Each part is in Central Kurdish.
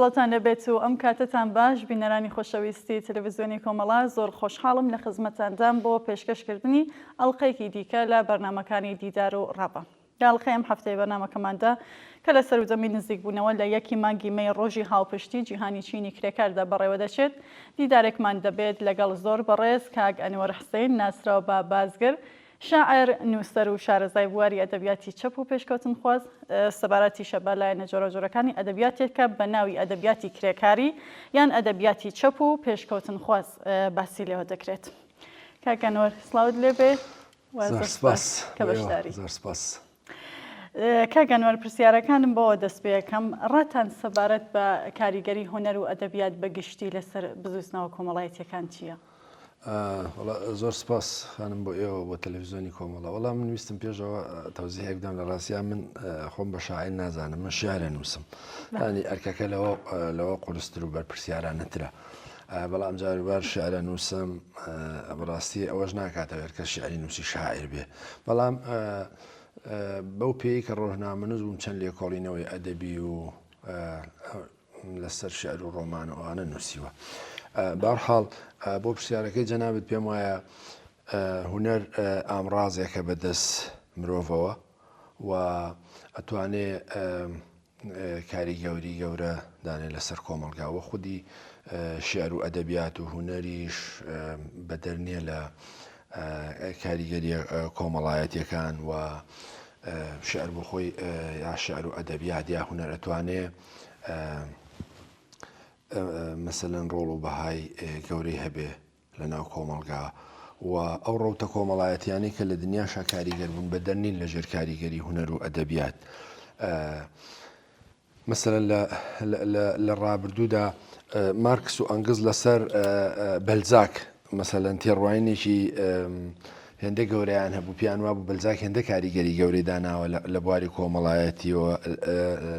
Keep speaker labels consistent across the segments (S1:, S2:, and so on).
S1: سڵاوتان لێبێت و ئەم کاتەتان باش بینەرانی خۆشەویستی تەلەڤزیۆنی کۆمەڵە زۆر خۆشحاڵم لە خزمەتاندام بۆ پێشکەشکردنی ئەڵلقەیەکی دیکە لە بەرنمەکانی دیدار و ڕاپە. داڵقەی ئەم هەفتەی بەرنامەکەماندا کە لە سەروجەمی نزیکبوونەوە لە یەکی مانگی مەی ڕۆژی هاوپشتی جیهانی چینی کرێکاردا بەڕێوەدەچێت، دیدارێکمان دەبێت لەگەڵ زۆر بەڕێز کاک ئەنوەر حسین ناسراو بە بازگر، شاعر، نووسەر و شارەزای بواری ئەدەبیاتی چەپ و پێشکەوتنخواز، سەبارەتیشە بە لایەنە جۆراوجۆرەکانی ئەدەبیاتێکە بە ناوی ئەدەبیاتی کرێکاری یان ئەدەبیاتی چەپ و پێشکەوتنخواز باسی لێوە دەکرێت. کاک ئەنوەر سڵاوت لێبێت. زۆر سپاس کە بەشداری. زۆر سپاس. کاک ئەنوەر پرسیارەکانم بەوە دەست پێ ئەکەم، ڕاتان سەبارەت بە کاریگەری هونەر و ئەدەبیات بە گشتی لەسەر بزووتنەوە کۆمەڵایەتییەکان چییە؟ وەڵا
S2: زۆر سپاس خانم بۆ ئێوە بۆ تەلەڤیزیۆنی کۆمەڵە، وەڵا من ویستم پێشەوە تەوزیهێک بدەم لە ڕاستیا من خۆم بە شاعیر نازانم، من شیعر ئەنووسم. یانی ئەرکەکە لەوە لەوە قورستر و بەرپرسیارانەترە. بەڵام جاروبار شعرە نووسم بەڕاستی ئەوەش ناکاتە هەر کە شعری نووسی شاعر بێ بەڵام بەو پێی کە ڕۆژنامەنووس بووم چەند لێکۆڵینەوەی ئەدەبی و لەسەر شعر و ڕۆمان و ئەوانە نووسیوە بارحاڵ بۆ پرسیارەکەی جەنابەت پێم وایە هوەر ئامرازێکە بەدەست مرۆڤەوە و ئەتوانێ کاریگەوری گەورە دانێ لەسەر کۆمەڵگا وە خودی شیعر و ئەدەبیات و هونەریش بەدەر نیە لە کاریگەریە کۆمەڵایەتیەکان و شعر بۆ خۆی یا شعر و ئەدەبیات یا هونەر ئەتوانێ مەسەلەن ڕۆڵ و بەهای گەورەی هەبێ لە ناو کۆمەڵگا و ئەو ڕەوتە کۆمەڵایەتیانەی کە لە دنیاشا کاریگەر بوون بە دەرنین لە ژێر کاریگەری هونەر و ئەدەبیات. مەسەرەن لە ڕابردوودا مارکس و ئەنگز لەسەر بەلزاک مەسەلەن تێڕوانینێکی هێندە گەورەیان هەبوو پیان وابوو بەلزاک هێندە کاریگەری گەورەی داناوە لە بواری کۆمەڵایەتیەوە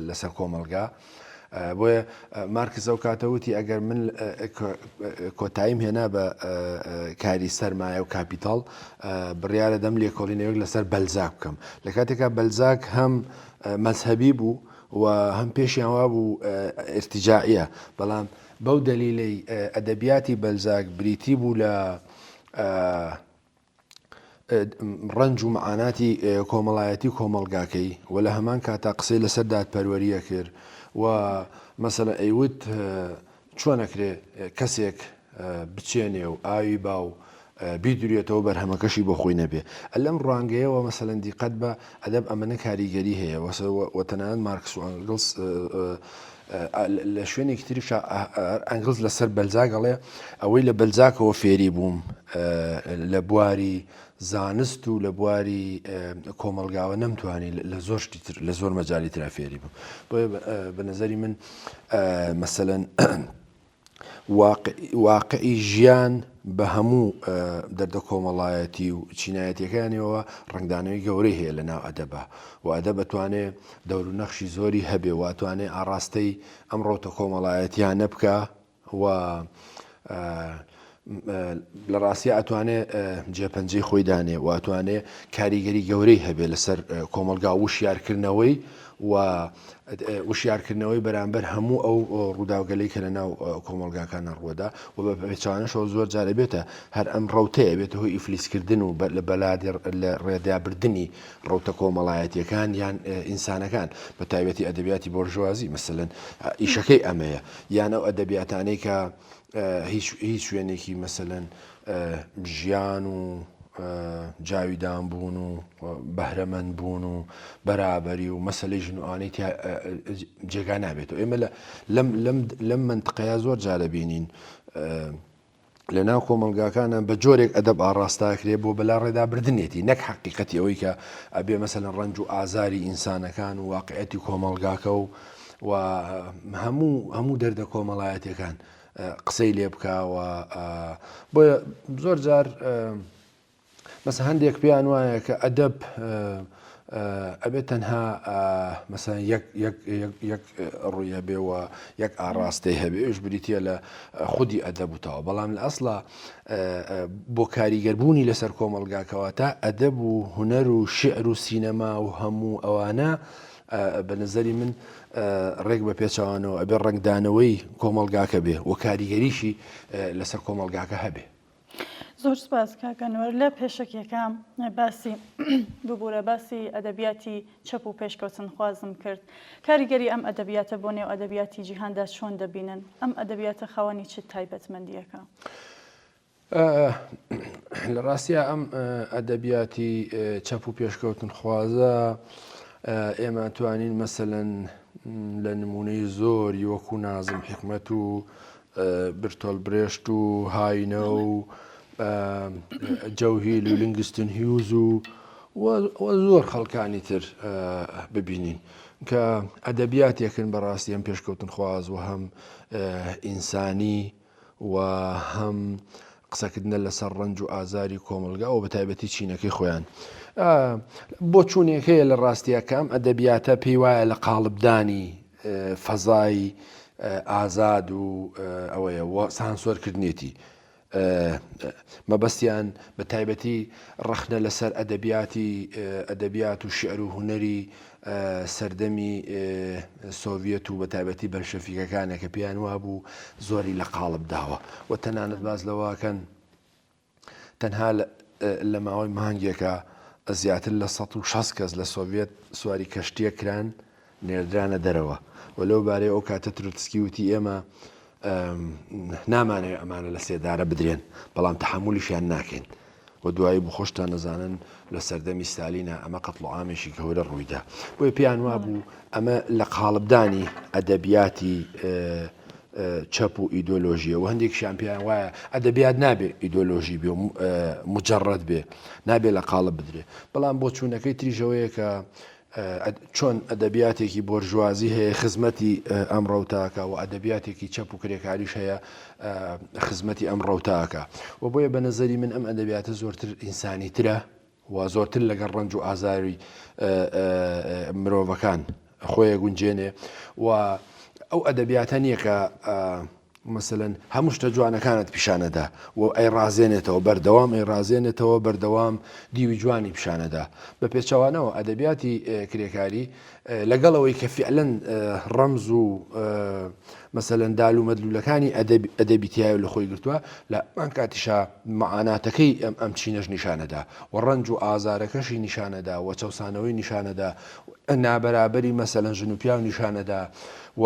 S2: لەسەر کۆمەلگا. بۆیە مارکس ئەو کاتە وتی ئەگەر من کۆتاییم هێنا بە کاری سەرمایە و کاپیتاڵ بڕیاە دەم لێکۆڵینەوەک لەسەر بەلزاک بکەم لە کاتێکا بەلزاک هەم مەذهبی بوو و هەم پێشیان وا بوو ئرتجاعە بەڵام بەو دەلیلەی ئەدەبیاتی بەلزاک بریتی بوو لە ڕەنج و مەعاناتی کۆمەڵایەتی کۆمەڵگاکەی و لە هەمان کاتا قسەی لەسەر دادپەروەریە کرد و مەسەلەن ئەیوت چۆنەکرێ کەسێک بچێنێ و ئاوی با و بیدوریێتەوە بەرهەمەکەشی بۆ خۆی نەبێ لەم ڕوانگەیەوە مەسەلەن دیقەت بە ئەدەب ئەمەە کاریگەری هەیە وەسەر وەتەنانەت مارکس و ئەنگلس لە شوێنێکی تریشا ئەنگڵز لەسەر بەلزاک ئەڵێ، ئەوەی لە بەلزاکەوە فێری بووم لە بواری زانست و لە بواری کۆمەڵگاوە نەمتوانی لە زۆر شتی تر لە زۆر مەجالی ترا فێری بووم. بۆیە بە نەزەری من مەسەلەن واقعی ژیان بە هەموو دەردە کۆمەڵایەتی و چینایەتیەکانیەوە ڕەنگدانەوەی گەورەی هەیە لە ناو ئەدەبا و ئەدەب ئەتوانێ دەور و نەخشی زۆری هەبێ و ئەتوانێ ئاڕاستەی ئەم ڕەوتە کۆمەڵایەتیانە بکا و لە ڕاستیا ئەتوانێ جێ پەنجەی خۆی دانێ و ئەتوانێ کاریگەری گەورەی هەبێ لەسەر کۆمەڵگا وشیار کردنەوەی و وشیار کردنەوەی بەرامبەر هەموو ئەو ڕووداوگەلەی کە لە ناو کۆمەڵگاکانە ڕووەدا و بە پێچەوانەشەوە زۆر جار ئەبێتە هەر ئەم ڕەوتەیە ئەبێتە هۆی ئیفلیس کردن و لە بەلادێ لە ڕێدا بردنی ڕەوتە کۆمەڵایەتیەکان یان ئینسانەکان بە تایبەتی ئەدەبیاتی بۆرژوازی مەسەلەن ئیشەکەی ئەمەیە یان ئەو ئەدەبیاتانەی کە هیچ هیچ شوێنێکی مەسەلەن ژیان و جاویدان بوون و بەهرەمەند بوون و بەرابەری و مەسلەی ژن و ئانی جێگا نابێتەوە ئێمە لەم منتقەیە زۆر جارە بینین لە ناو کۆمەلگاکانە بە جۆرێک ئەدەب ئاڕاستاکرێ بۆ بەلا ڕێدابردنێتی نەک حقیقەتی ئەوەی کە ئەبێ مەسەن ڕنج و ئازاری ئینسانەکان و واقعەتی کۆمەلگاکە و و هەموو هەموو دەردە کۆمەڵایەتیەکان قسەی لێ بکەوە بۆیە زۆر جار مەسە هەندێک پێیان وایە کە ئەدەب ئەبێت تەنها مەسەن یەک ڕوویە بێەوە یەک ئاڕاستەی هەبێش بریتە لە خودی ئەدەبوتەوە بەڵام لە ئەسڵا بۆ کاریگەربوونی لەسەر کۆمەلگاکەوە تا ئەدەب و هوەر و شعر و سینەما و هەموو ئەوانە بە نەزەری من ڕێک بە پێچەوانەوە ئەبێ ڕەنگدانەوەی کۆمەڵگاکە بێ و کاریگەریشی لەسەر کۆمەڵگاکە هەبێ. زۆر
S1: سپاس کاک ئەنوەر لە پێشەکیەکەم باسی ببورە باسی ئەدەبیاتی چەپ و پێشکەوتنخوازم کرد کاریگەری ئەم ئەدەبیاتە بۆ نێو ئەدەبیاتی جیهاندا چۆن دەبینن ئەم ئەدەبیاتە خاوەنی چ تایبەتمەندیەکە؟
S2: لە ڕاستیا ئەم ئەدەبیاتی چەپ و پێشکەوتنخوازە ئێمە توانین مەسەەن لە نمونەی زۆری وەکو نازم حکمت و برتۆل برێشت و هاینە و جەوهیل و لنگستن هیوز و زۆر خەڵکانی تر ببینین کە ئەدەبیاتێکن بەڕاستی ئەم پێشکەوتنخواز و هەم ئینسانی و هەم قسەکردنە لەسەر ڕەنج و ئازاری کۆمەڵگا و بەتایبەتی چینەکەی خۆیان بۆچوونێک هەیە لە ڕاستیە کە ئەم ئەدەبیاتە پێی وایە لە قاڵبدانی فەزای ئازاد و ئەوەیە سانسۆرکردنێتی مەبەستیان بە تایبەتی ڕەخنە لەسەر ئەدەبیاتی ئەدەبیات و شعر و هونەری سەردەمی سۆڤیەت و بەتایبەتی بەلشەفیکەکانە کە پێیان وابوو زۆری لە قاڵب داوە و تەنانەت باز لەوەکەن تەنها لە ماوەی مانگێکە زیاتر لە ١٦٠ کەس لە سۆڤیەت سواری کەشتییەک کران نێردرانە دەرەوە و لەو بارەیە ئەو کاتە تروتسکی وتی ئێمە نامانەوێ ئەمانە لە سێدارە بدرێن، بەڵام تەحەمولیشیان ناکەین و دوایی بوو خۆشتان دەزانن لە سەردەمی ستالینا ئەمە قەتڵوعامێکی گەورە ڕوویدا بۆی پێیان وابوو ئەمە لە قاڵبدانی ئەدەبیاتی چەپ و ئیدۆلۆژیە و هەندێک شامپیان وایە ئەدەبیات نابێ ئیدۆلۆژی بێ مجرڕەت بێ نابێ لە قاڵب بدرێ بەڵام بۆ چوونەکەی تریژەوەیە کە چۆن ئەدەبیاتێکی بۆرژوازی هەیە خزمەتی ئەم ڕەوتاکە و ئەدەبیاتێکی چەپ و کرێکاریش هەیە خزمەتی ئەم ڕەوتاکە و بۆیە بە نەزەری من ئەم ئەدەبیاتە زۆرتر ئینسانی ترە و زۆرتر لەگەڵ ڕەنج و ئازاری مرۆڤەکان خۆیە گونجێنێ و ئەو ئەدەبیاتە نییە کە مەسەلەن هەموو شتە جوانەکانت پیشانەدا و ئەیڕازێنێتەوە، بەردەوام ئەیڕازێنێتەوە، بەردەوام دیوی جوانی پیشانەدا. بە پێچەوانەوە ئەدەبیاتی کرێکاری لەگەڵ ئەوەی کە فیعلەن ڕەمز و مەسەلەن دال و مەدلولەکانی ئەدەبی تایە لە خۆی گرتووە لە ئەمان کاتیشا معاناتەکەی ئەم ئەم چینەش نیشانەدا و ڕەنج و ئازارەکەشی نیشانەدا و چەسانەوەی نیشانەدا نابەرابەری مەسەلەن ژن و پیاو نیشانەدا و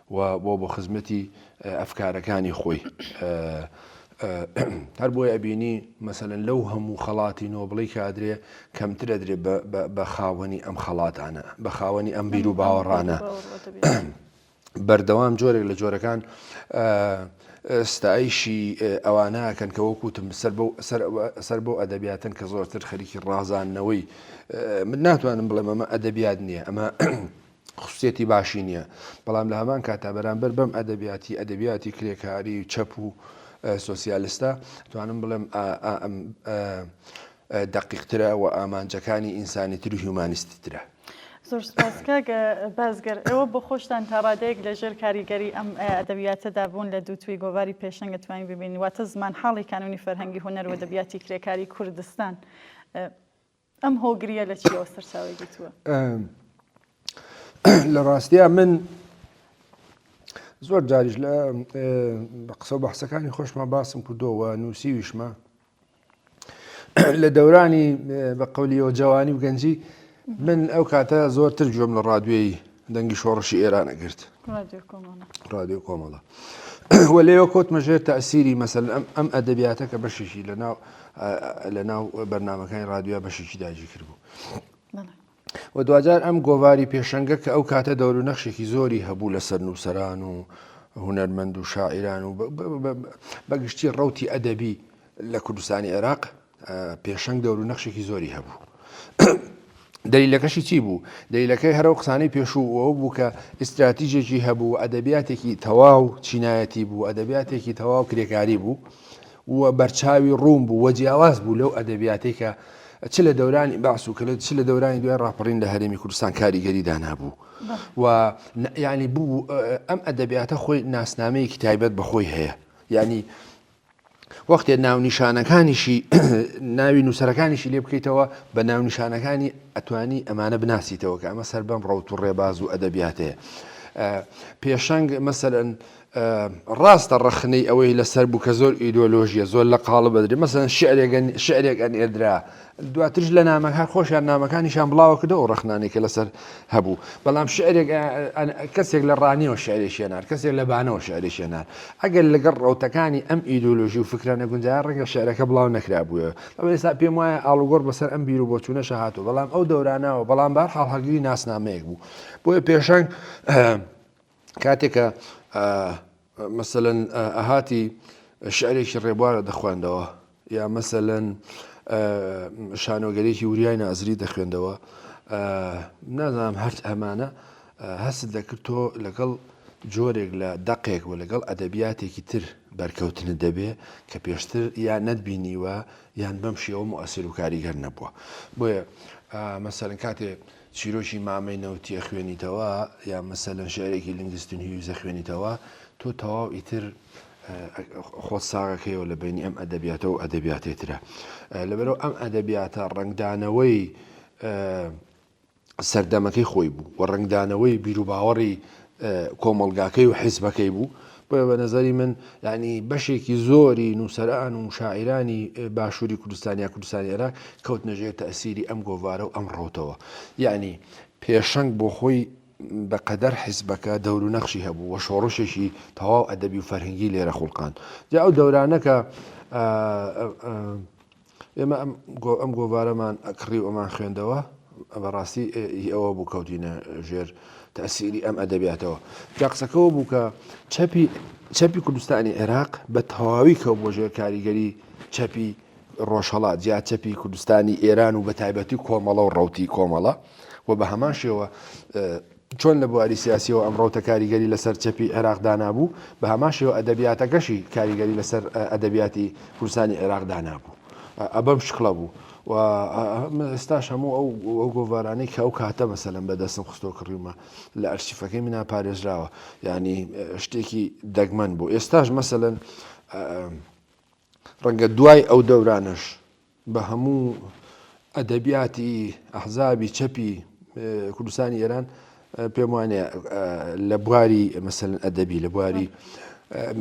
S2: و بۆ بۆ خزمەتی ئەفکارەکانی خۆی هەر بۆیە ئەبینی مەسەلەن لەو هەموو خەڵاتی نۆبڵی کادرێ کەمتر ئەدرێ بە خاوەنی ئەم خەڵاتانە بە خاوەنی ئەم بیر و باوەڕانە بەردەوام جۆرێک لە جۆرەکان ستایشی ئەوانەکەن کە وەکوتم سەر بۆ سەر بۆ ئەدەبیاتن کە زۆرتر خەریکی ڕازانەوەی من ناتوانم بڵێم ئەمە ئەدەبیات نییە ئەمە خسوسیەتی باشی نییە، بەڵام لە هەمان کاتدا بەرامبەر بەم ئەدەبیاتی، ئەدەبیاتی کرێکاری و چەپ و سۆسیالستە، توانم بڵێم دەقیقترە و ئامانجەکانی ئینسانیتر و هیومانیستیترە. زۆر سوپاس
S1: کاک بازگەر، ئێوە بۆ خۆشتان تا ڕادەیەک لە ژێر کاریگەری ئەم ئەدەبیاتەدا بوون، لە دووتوێی گۆڤاری پێشەنگت توانین ببینین، واتە زمانحاڵی کانوونی فەرهەنگی هونەر و ئەدەبیاتی کرێکاری کوردستان. ئەم هۆگریە لە چیەوە سەرچاوی گرتووە؟
S2: لە ڕاستیا من زۆر جاریش لە قسە بەحسەکانی خۆشمان باسم کردەوە نووسیویشمە لە دەورانی بە قولیەوە جوانی و گەنجی من ئەو کاتە زۆرتر گوێم لە ڕادوێی دەنگی شۆڕشی ئێران ئەگرت ڕادیۆ کۆمەڵە وە لێوە کۆتمە ژێر تاسیری مەسەل ئەم ئەم ئەدەبیاتە کە بەشێکی لە ناو لە ناو بەرنمەکانی ڕادیۆ بەشێکی داجی کرد بوو و دوجار ئەم گۆواری پێشەنگە کە ئەو کاتە دەور و نەخشێکی زۆری هەبوو لەسەر نووسران و هوەرمەند و شاعران و بەگشتی ڕوتی ئەدەبی لە کوردستانی عێراق پێشەنگ دەورو نەخشێکی زۆری هەبوو. دەلیلەکەشی چی بوو؟ دەلیلەکەی هەرەو قسانەی پێشوو ئەوە بوو کە ئیستراتیژێکی هەبوو و ئەدەبیاتێکی تەواو چینایەتی بوو، ئەدەبیاتێکی تەواو کرێکاری بوو و بەرچاوی ڕوون بوو و جیاواز بوو لەو ئەدەبیاتەی کە چ لە دەورانی بەعس و کەلە چ لە دەورانی دوای ڕاپەڕین لە هەرێمی کوردستان کاریگەری دانابوو و یعنی بوو ئەم ئەدەبیاتە خۆی ناسنامەیەکی تایبەت بەخۆی هەیە یعنی وەختێ ناونیشانەکانیشی ناوی نووسەرەکانیشی لێ بکەیتەوە بە ناونیشانەکانی ئەتوانی ئەمانە بناسیتەوە کە ئەمە سەر بەم ڕوت و ڕێباز و ئەدەبیاتەیە پێشەنگ مەسەرەن ڕاستە ڕەخنەی ئەوەی لەسەر بوو کە زۆر ئیدۆلۆژیە زۆر لە قاڵە بەدرێ مەسەن شعرێک شعرێک ئەن ئێدرا دواترش لە نامەکە هەر خۆشیان نامەکانیشیان بڵاوە کردەوە و ڕەخنانێک کە لەسەر هەبوو، بەڵام شعرێک کەسێک لە ڕانیەوە شعرێکی هێنار، کەسێک لە بانەوە شعرێکی هێنار، ئەگەر لەگەڵ ڕەوتەکانی ئەم ئیدۆلۆژی و فکرە نەگونجایە ڕەنگە شعرەکە بڵاو نەکرابوویەوە، بەڵام ئێستا پێم وایە ئاڵوگۆڕ بەسەر ئەم بیر و بۆچوونەشە هاتووە، بەڵام ئەو دەورانە و بەڵام بەهەرحاڵ هەڵگری ناسنامەیەک بوو، بۆیە پێشەنگ، کاتێ کە مەسەلەن ئەهاتی شعرێکی ڕێبوارە دەخواندەوە یا مەسەلەن شانۆگەرێکی وریای نازری دەخوێندەوە نازانام هەرچ ئەمانە هەست دەکرد تۆ لەگەڵ جۆرێک لە دەقێک و لەگەڵ ئەدەبیاتێکی تر بەرکەوتنت دەبێ کە پێشتر یان نەتبینیوە یان بەم شێوە موەسیر و کاریگەر نەبووە بۆیە مەسەرن کاتێ چیرۆکی مامەی نەوتی ئەخوێنیتەوە یا مەسەلەن شعرێکی لینگستون هیوز ئەخوێنیتەوە تۆ تەواو ئیتر خۆت ساغەکەیەوە لە بینی ئەم ئەدەبیاتە و ئەدەبیاتێ ترە لەبەرەوە ئەم ئەدەبیاتە ڕنگدانەوەی سەردەمەکەی خۆی بوو و ڕنگدانەوەی بیرروباوەڕی کۆمەڵگاکەی و حیزبەکەی بوو، بۆیە بە نەزەری من یانی بەشێکی زۆری نووسەران و شاعیرانی باشووری کوردستان یا کوردستانی عێراق کەوتنە ژێر تەئسیری ئەم گۆڤارە و ئەم ڕەوتەوە. یانی پێشەنگ بۆ خۆی بە قەدەر حیزبەکە دەور و نەخشی هەبوو و شۆڕشێکی تەواو ئەدەبی و فەرهەنگی لێرە خوڵقاند. جا ئەو دەورانە کە ئێمە ئەم گۆ ئەم گۆڤارەمان ئەکڕی و ئەمان خوێندەوە بە ڕاستی ئی ئەوە بوو کەوتینە ژێر تەسیری ئەم ئەدەبیاتەوە جا قسەکەەوە بوو کە چەپی چەپی کوردستانی عێراق بە تەواوی کەو بۆ ژێر کاریگەری چەپی ڕۆژهڵات جیا چەپی کوردستانی ئێران و بە تایبەتی کۆمەڵە و ڕوتی کۆمەڵە و بە هەمان شێوە چۆن لە بواری سیاسییەوە ئەم ڕەوتە کاریگەری لەسەر چەپی عێراق دانابوو، بە هەمان شێوە ئەدەبیاتەکەشی کاریگەری لەسەر ئەدەبیاتی کوردستانی عێراق دانابوو. ئە بەم شکڵە بوو. و ئێستاش هەموو ئەو ئەو گۆڤارانەی کە ئەو کاتە مەسەلەن بە دەستم خستۆ کڕیومە لە ئەرشیفەکەی منا پارێزراوە. یانی شتێکی دەگمەن بوو. ئێستاش مەسەلەن ڕەنگە دوای ئەو دەورانەش بە هەموو ئەدەبیاتی ئەحزابی چەپی کوردستانی ئێران پێم وانێ لە بواری مەسەن ئەدەبی لە بواری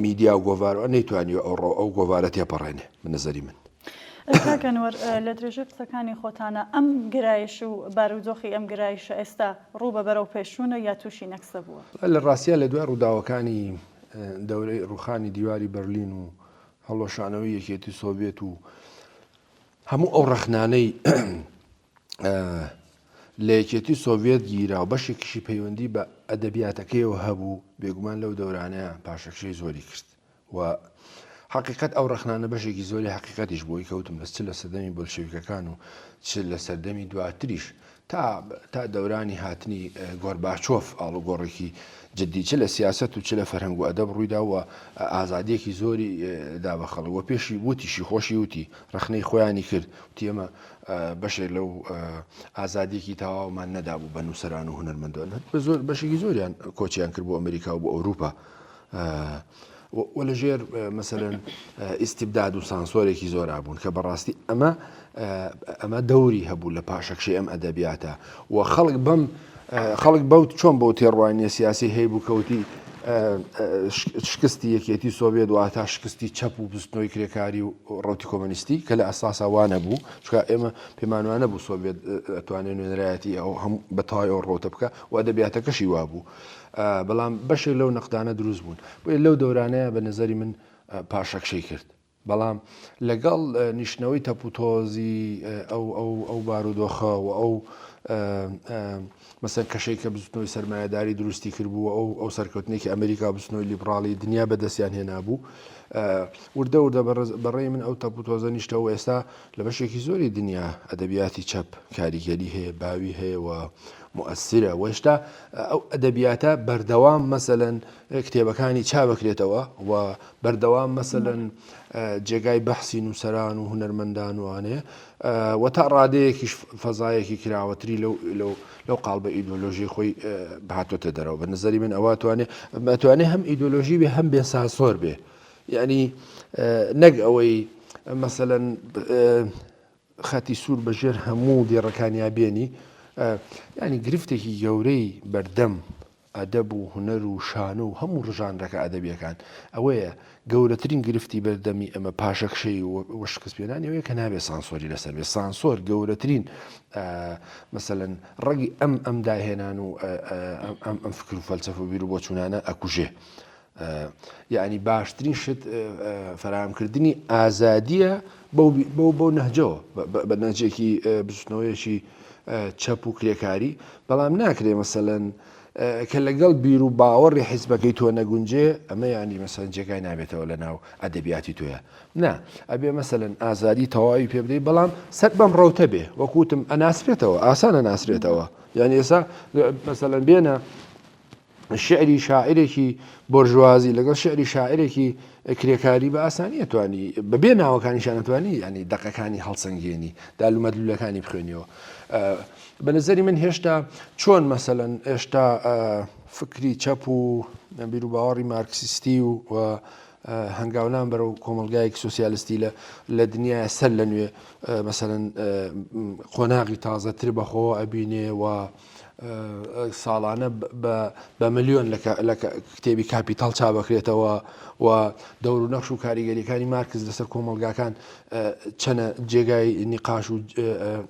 S2: میدیا و گۆڤارەوە نەیتوانی ئەو ڕۆ ئەو گۆڤارە تێپەڕێنێ من نظری من. کاکەنوەر
S1: لە درێژەی قسەکانی خۆتانە ئەم گرایش و بارودۆخی ئەم گرایشە ئێستا ڕوو بە بەرەو پێشوونە یا تووشی نەکسە بووە لە ڕاستە لە دوای
S2: ڕووداوەکانی دەورەی ڕوخانی دیواری بەرلین و هەڵوەشانەوەی یەکێتی سۆڤێت و هەموو ئەو ڕەخنانەی لە یەکێتی سۆڤێت گیرا و بەشێکیشی پەیوەندی بە ئەدەبیاتەکەیەوە هەبوو بێگومان لەو دەورانەیە پاشەکشەی زۆری کرد و حقیقت ئەو ڕخنانە بەشێکی زۆری حقیقەتیش بۆی کەوتم بەس چ لە سەردەمی بۆلشویکەکان و چ لە سەردەمی دواتریش تا تا دەورانی هاتنی گۆرباچۆف ئاڵوگۆڕێکی جدی چ لە سیاسەت و چ لە فەرهەنگ و ئەدەب ڕوویدا و ئازادییەکی زۆری دا بە خەڵک و پێشی وتیشی خۆشی وتی ڕەخنەی خۆیانی کرد وتی ئێمە بەشێک لەو ئازادییەکی تەواومان نەدابوو بە نووسەران و هونەرمەندان بە زۆر بەشێکی زۆریان کۆچیان کرد بۆ ئەمریکا و بۆ ئەوروپا و لە ژێر مەسەلەن ئیستبداد و سانسۆرێکی زۆرا بوون کە بەڕاستی ئەمە ئەمە دەوری هەبوو لە پاشەکشی ئەم ئەدەبیاتە و خەڵک بەم خەڵک بەوت چۆن بەو تێڕوانیە سیاسی هەیبوو کەوتی شکستی یەکێتی سۆڤێت واتە شکستی چەپ و بستنەوەی کرێکاری و ڕوتی کۆمەنیستی کە لە ئەساسا وانە بوو چکە ئێمە پێمانوانە بوو سۆڤێت ئەتوانێت نوێنەرایەتی ئەو هەم بەتەوای ئەو ڕۆتە بکە و ئەدەبیاتەکەشی وابوو بەڵام بەشێک لەو نەقدانە دروست بوون بۆیە لەو دەورانەیە بە نظری من پاشەکشەی کرد بەڵام لەگەڵ نیشتنەوەی تەپوتۆزی ئەو ئەو بارودۆخە و ئەو مەسەر کەشەی کە بزنەوەی سرمایهداری دروستی کردبوو ئەو ئەو سەرکەوتنێکی ئەمریکا بچنەوەی لیبراڵی دنیا بەدەستیان هێنابوو وردە وردە بەڕێ من ئەو تەپوتۆزە نیشتەوە ئێستا لە بەشێکی زۆری دنیا ئەدەبیاتی چەپ کاریگەری هەیە باوی هەیەەوە موئەسیرە و هێشتا ئەو ئەدەبیاتە بەردەوام مەسەلەن کتێبەکانی چابکرێتەوە و بەردەوام مەسەلەن جێگای بەحسی نووسران و هونەرمەندان وانێ و تا ڕادەیەکیش فەزایەکی کراوەتری لەو لەو لەو قالبە ئیدۆلۆژی خۆی بهاتۆتە دەرەوە بە نظری من ئەوە توانێ مەتوانێ هەم ئیدۆلۆژی بێ هەم بێ ساسۆر بێ یعنی نەک ئەوەی مەسەەن خەتی سوور بە ژێر هەموو دێڕەکانیا بێنی، یانی گرفتێکی گەورەی بەردەم ئەدەب و هونەر و شانۆ و هەموو ڕژانرەکە ئەدەبیەکان ئەوەیە، گەورەترین گرفتی بەردەمی ئەمە پاشەکشەی و شکست پێنانی ئەوەیە کە نابێ سانسۆری لەسەر بێ، سانسۆر گەورەترین مەسەلەن ڕەگی ئەم ئەم داهێنان و ئەم ئەم فکر و فەلسەفە و بیرو بۆچوونانە ئەکوژێ. یەعنی باشترین شت فەراهەمکردنی ئازادییە بەو نەهجەوە، بە نەهجێکی بزوتنەوەیەکی چەپ و کرێکاری، بەڵام ناکرێ مەسەلەن کە لەگەڵ بیروباوەڕی حیزبەکەی تۆ نەگونجێ، ئەمە یەعنی مەسەلەن جێگای نابێتەوە لەناو ئەدەبیاتی تۆیا. نا، ئەبێ مەسەلەن ئازادی تەواوی پێ بدەی، بەڵام سەر بەم ڕەوتە بێ، وەکو وتم ئەناسرێتەوە، ئاسان ئەناسرێتەوە، یەعنی ئێستا مەسەلەن بێنە، شیعری شاعیرێکی بۆرژوازی لەگەڵ شیعری شاعیرێکی کرێکاری بە ئاسانی ئەتوانی بە بێ ناوەکانیشان ئەتوانی ینی دەقەکانی هەڵسەنگێنی دالومەت لولەکانی بخوێنیەوە بە نظری من هێشتا چۆن مەسەەن ئێشتا فکری چەپ و بیرو باوەڕی مارکسیستی و و هەنگاونان بەرەو کۆمەلگایەک سوسیالستی لە لە دنیا سەر لە نوێ مەسەن قۆناغی تازەتر بەخۆ ئەبینێ و ساڵانە بە ملیۆن لە کتێبی کاپیتاڵ چاپدەکرێتەوە و دەور و نەخش و کاریگەریەکانی مارکز لەسەر کۆمەڵگاکان چەنە جێگای نیقاش و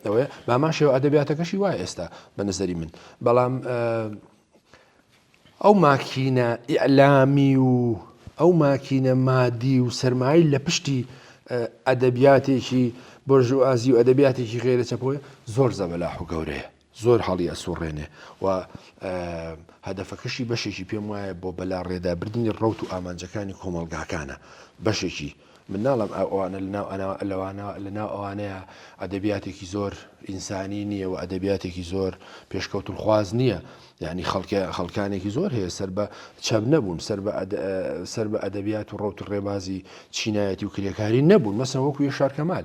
S2: ئەوەیە بامان شێوە ئەدەبیاتەکەشی وایە ئێستا بە نظری من بەڵام ئەو ماکینە ئیعلامی و ئەو ماکینە مادی و سرمایی لە پشتی ئەدەبیاتێکی بۆرژوازی و ئەدەبیاتێکی غێرە چەپۆی زۆر زەبەلاح و گەورەیە زۆر هەڵی ئەسوڕێنێ و هەدەفەکەشی بەشێکی پێم وایە بۆ بەلاڕێدابردنی ڕەوت و ئامانجەکانی کۆمەڵگاکانە بەشێکی من ناڵم ئەوانە لەناو لەوانە لەناو ئەوانەیە ئەدەبیاتێکی زۆر ئینسانی نییە و ئەدەبیاتێکی زۆر پێشکەوتن خواز نییە یعنی خەڵکە خەڵکانێکی زۆر هەیە سەر بە چەپ نەبوون سەر بە سەر بە ئەدەبیات و ڕوت ڕێبازی چینایەتی و کرێکاری نەبوون مەسەوەکو یە شارکەمال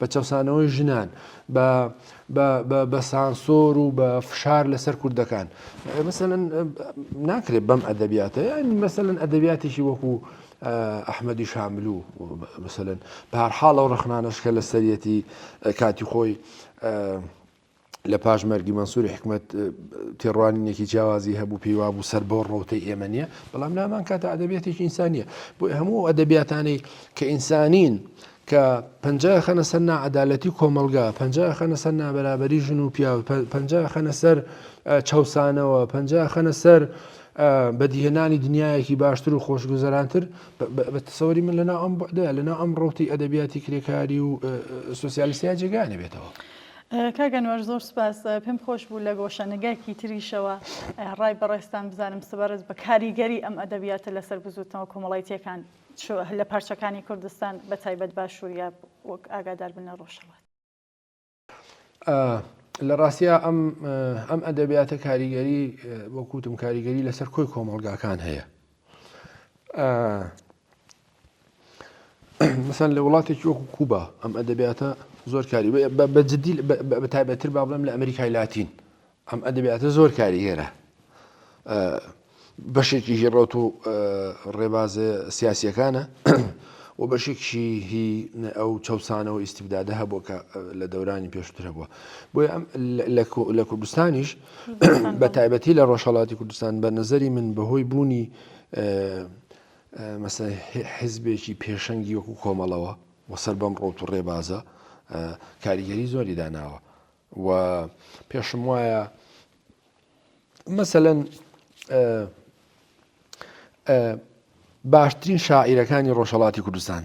S2: بە چەوسانەوەی ژنان بە سانسۆر و بە فشار لەسەر کوردەکان مەسەن ناکرێت بەم ئەدەبیاتە مەسەن ئەدەبیاتێکی وەکو ئەحمەدی شامل و مەسەن پارحاڵە و ڕخنانەشکە لە سەرەتی کاتی خۆی لە پاش مەرگی مەنسوری حکمەت تێڕوانینێکی جیاوازی هەبوو پێی وابوو سەر بۆ ڕەوتەی ئێمە نیە بەڵام لامان کاتە ئەدەبێتێکی ئینسانیە بۆ هەموو ئەدەبیاتانەی کە ئینسانین کە پنج خەنە سەر نعادالەتی کۆمەلگا پنج خەنە سەر نابرابری ژن و پیاو پنج خەنە سەر چەسانەوە پنج خەنە سەر بەدیهێنانی دنیایەکی باشتر و خۆشگوزەرانتر بە تەسەوەری من لەنا ئەم بەدە لەنا ئەم ڕوتی ئەدەبیاتی کرێکاری و سوسیالسیا جێگانە بێتەوە. کاک ئەنوەر
S1: زۆر سوپاس پێم خۆش بوو لە گۆشە نگایکی تریشەوە ڕای بەڕێزتان بزانم سەبارەت بە کاریگەری ئەم ئەدەبیاتە لەسەر بزووتنەوە کۆمەڵایتیەکان لە پارچەکانی کوردستان بە تایبەت باشوور یا وەک ئاگادار بن لە ڕۆژهەڵات.
S2: لە ڕاستیا ئەم ئەم ئەدەبیاتە کاریگەری وەکوتم کاریگەری لەسەر کۆی کۆمەڵگاکان هەیە مەسەن لە وڵاتێکی وەکو کوبا ئەم ئەدەبیاتە زۆر کاری بە جددی بە تایبەتتر با بڵێم لە ئەمریکای لاتین ئەم ئەدەبیاتە زۆر کاری هێرە بەشێکی هی ڕوت و ڕێبازە سیاسیەکانە و بەشێکی هی ئەو چەسانەوە ئیسیبدادە هەبووە کە لە دەورانی پێشتر هەبووە بۆی ئەم لە کوردستانیش بە تایبەتی لە ڕۆژهەڵاتی کوردستان بە نظری من بەهۆی بوونی مەسە حزبێکی پێشەنگی وەکو کۆمەڵەوە وەسەر بەم ڕۆت و ڕێبازە کاریگەری زۆری داناوە و پێشم وایە مەسەەن باشترین شاعیرەکانی ڕۆژهڵاتی کوردستان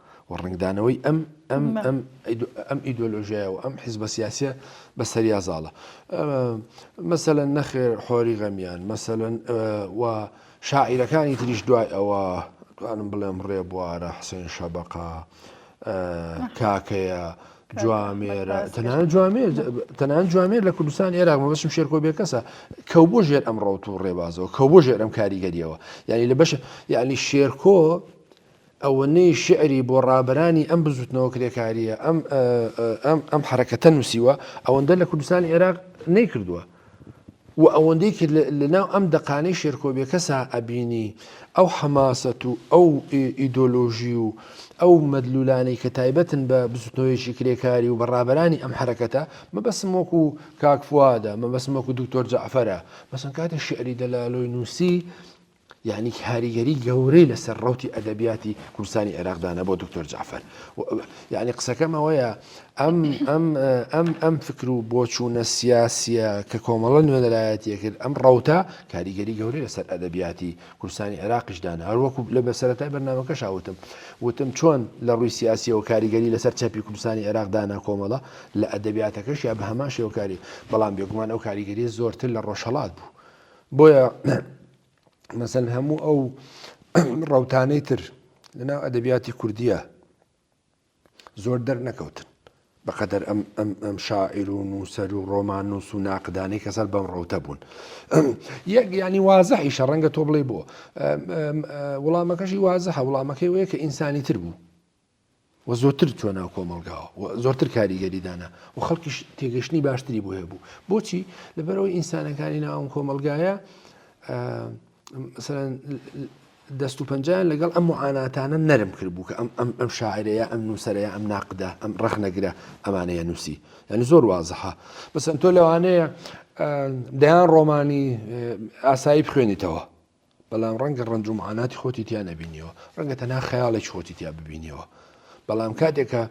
S2: و ڕەنگدانەوەی ئەم ئەم ئەم ئەم ئیدۆلۆژیایە و ئەم حیزبە سیاسە بە سەریا زاڵە مەسەەن نەخێر حۆری غەمیان مەسەەن و شاعیرەکانی تریش دوای ئەوە توانم بڵێم ڕێ بوارە حسێن شەبقە کاکەیە. جوامێرە تەنان جوامێر تەنان جوامێر لە کوردستان ئێراق مەبەشم شێرکۆ بێ کەسە کەو بۆ ژێر ئەم ڕەوت و ڕێبازەوە کە بۆ ژێر ئەم کاریگەریەوە یعنی لە بەش یعنی شێرکۆ ئەوەنەی شیعری بۆ ڕابەرانی ئەم بزووتنەوە کرێکارییە، ئەم ئەم ئەم حەرەکەتە نووسیوە، ئەوەندە لە کوردستانی عێراق نەیکردووە. و ئەوەندەی کرد لە لەناو ئەم دەقانەی شێرکۆ بێکەسا ئەبینی ئەو حەماسەت و ئەو ئیدۆلۆژی و ئەو مەدلولانەی کە تایبەتن بە بزووتنەوەیەکی کرێکاری و بە ڕابەرانی ئەم حەرەکەتە، مەبەستم وەکوو کاک فوادە، مەبەستم وەکوو دوکتۆر جەعفەرە. مەسەن کاتێ شیعری دەلالۆی نووسی، یانی کاریگەری گەورەی لەسەر ڕوتی ئەدەبیاتی کوردستانی عێراق دانا بۆ دکتۆر جعفر یعنی قسەکەم ئەوەیە ئەم ئەم ئەم ئەم فکر و بۆچوونە سیاسیە کە کۆمەڵە نوێنەرایەتیە کرد ئەم ڕوتە کاریگەری گەورەی لەسەر ئەدەبیاتی کوردستانی عێراقیش دانا هەروەکو لە بەسەرەتای بەرنمەکە شاوتم وتم چۆن لە ڕووی سیاسیەوە کاریگەری لەسەر چەپی کوردستانی عێراق دانا کۆمەڵە لە ئەدەبیاتەکەش یا بە هەمان شێوەکاری بەڵام بێگومان ئەو کاریگەری زۆرتر لە ڕۆژهڵات بوو بۆیە مەسەن هەموو ئەو ڕەوتانەی تر لەناو ئەدەبیاتی کوردیە زۆر دەرنەکەوتن بەقەدەر ئەم ئەم شاعیر و نووسەر و ڕۆمان نووس و ناقدانی کە سەر بەم ڕەوتە بوون یەک ینی وازەحی شەڕەنگە تۆ بڵێ بۆ وڵامەکەشی وازەحە وڵامەکەی وەیە کە ئینسانی تر بوو و زۆرتر چووە ناو کۆمەڵگاوە و زۆرتر کاریگەری دانا و خەڵکیش تێگەشتنی باشتری بۆ هەبوو بۆچی لەبەرەوەی ئینسانەکانی ناوم کۆمەلگایە دەست و پەنجیان لەگەڵ ئەم معاناتانە نەرم کرد بوو کە ئەم ئەم ئەم شاعرەیە ئەم نووسەرەیە ئەم ناقدا ئەم ڕخنەگرە ئەمانەیە نووسی یعنی زۆر وازەها بەسەن تۆ لەوانەیە دەیان ڕۆمانی ئاسایی بخوێنیتەوە بەڵام ڕەنگە ڕەنج و معاناتی خۆتی تیا نەبینیەوە ڕەنگە تەنها خەیاڵێکی خۆتی تیا ببینیەوە بەڵام کاتێکە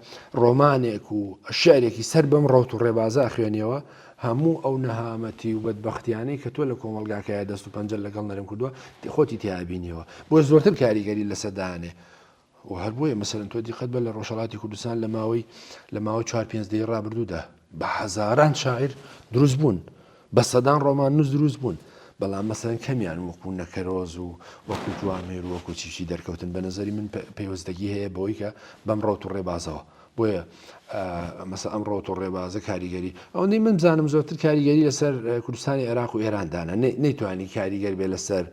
S2: ڕۆمانێک و شعرێکی سەر بەم ڕوت و ڕێبازە خوێنیەوە هەموو ئەو نەهامەتی و بەدبختیانەی کە تۆ لە کۆمەلگاکایە دەست و پەنجە لەگەڵ نەرم کردووە خۆتی تیابینیەوە بۆ زۆرتر کاریگەری لەسەدانێ و هەر بۆیە مەسەلەن تۆ دیقەت بە لە ڕۆژهەڵاتی کوردستان لە ماوەی لە ماوە چوار پێنج دەی ڕابردوودا بە هەزاران شاعیر دروست بوون بە سەدان ڕۆمان نووس دروست بوون بەڵام مەسەن کەمیان وەکو نەکەرۆز و وەکو جوامێر وەکو چیشی دەرکەوتن بە نظری من پێوەستگی هەیە بەوەی کە بەم ڕوت و ڕێبازەوە بۆیە مەسە ئەم ڕوت و ڕێبازە کاریگەری ئەوەندەی من بزانم زۆرتر کاریگەری لەسەر کوردستانی عێراق و ئێراندانە نەیتوانی کاریگەر بێ لەسەر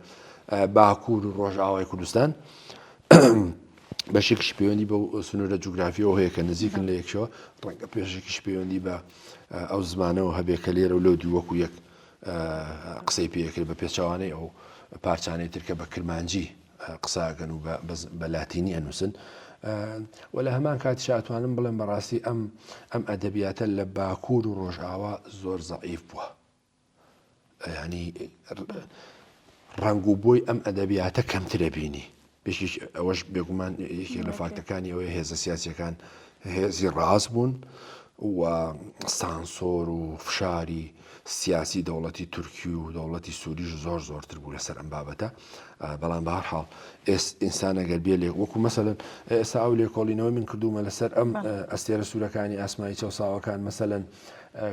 S2: باکوور و ڕۆژئاوای کوردستان بەشێکیش پەیوەندی بەو سنوورە جوگرافیەوە هەیە کە نزیکن لە یەکشەوە ڕەنگە پێشێکیش پەیوەندی بە ئەو زمانەوە هەبێ کە لێرە و لەو دوو وەکو یەک قسەی پێکرد بە پێچوانەی ئەو پارچانەی ترکە بە کرمانجی قساگەن و بە لاتینی ئەنووسن و لە هەمان کات شاتوانم بڵێن بەڕاستی ئەم ئەم ئەدەبیاتە لە باکوور و ڕۆژئاوا زۆر زەعیف بووە یانی ڕەنگ و بۆی ئەم ئەدەبیاتە کەمترە بینی بێکیش ئەوەش بێگومان یەکێک لە فاکتەکانی ئەوەی هێزە سیاسەکان هێزی ڕاست بوون و سانسۆر و فشاری سیاسی دەوڵەتی تورکی و دەوڵەتی سووریش زۆر زۆرتر بوو لەسەر ئەم بابەتە بەڵام بە هەرحاڵ ئێس ئینسانەگەر بێ لێک وەکو مەسەن ئێستا ئەو لێکۆڵینەوەی من کردومە لەسەر ئەم ئەستێرە سوورەکانی ئاسمایی چەساوەکان مەسەن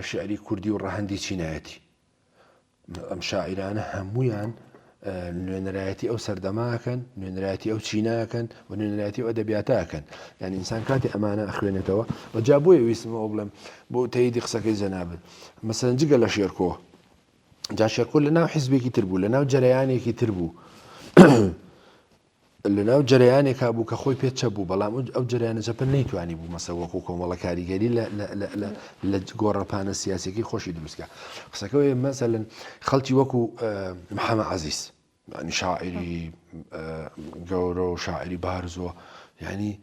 S2: شعری کوردی و ڕەهەندی چینایەتی ئەم شاعرانە هەمویان نوێنەرایەتی ئەو سەردەماکەن نوێنەرایەتی ئەو چیناکەن و نوێنەرایەتی و ئەدەبیاتاکەن یان ئینسان کاتی ئەمانە ئەخوێنێتەوە و جا بۆیە ویستمەوە بڵێم بۆ تەیدی قسەکەی جەنابن مەسەن جگە لە شێرکۆ جا شێرکۆ لە ناو حیزبێکی تر بوو لە ناو جەرەیانێکی تر بوو لەناو جەرەیانێکا بوو کە خۆی پێ چەپ بوو، بەڵام ئەو جەرەیانە چەپە نەیتوانیبوو مەسە وەکوو کۆمەڵە کاریگەری لە گۆڕەپانە سیاسیەکەی خۆشی دروست کا. قسەکە وەیە مەسەلەن خەڵکی وەکوو محەمە عەزیز یانی شاعیری گەورە و شاعیری بارز و یانی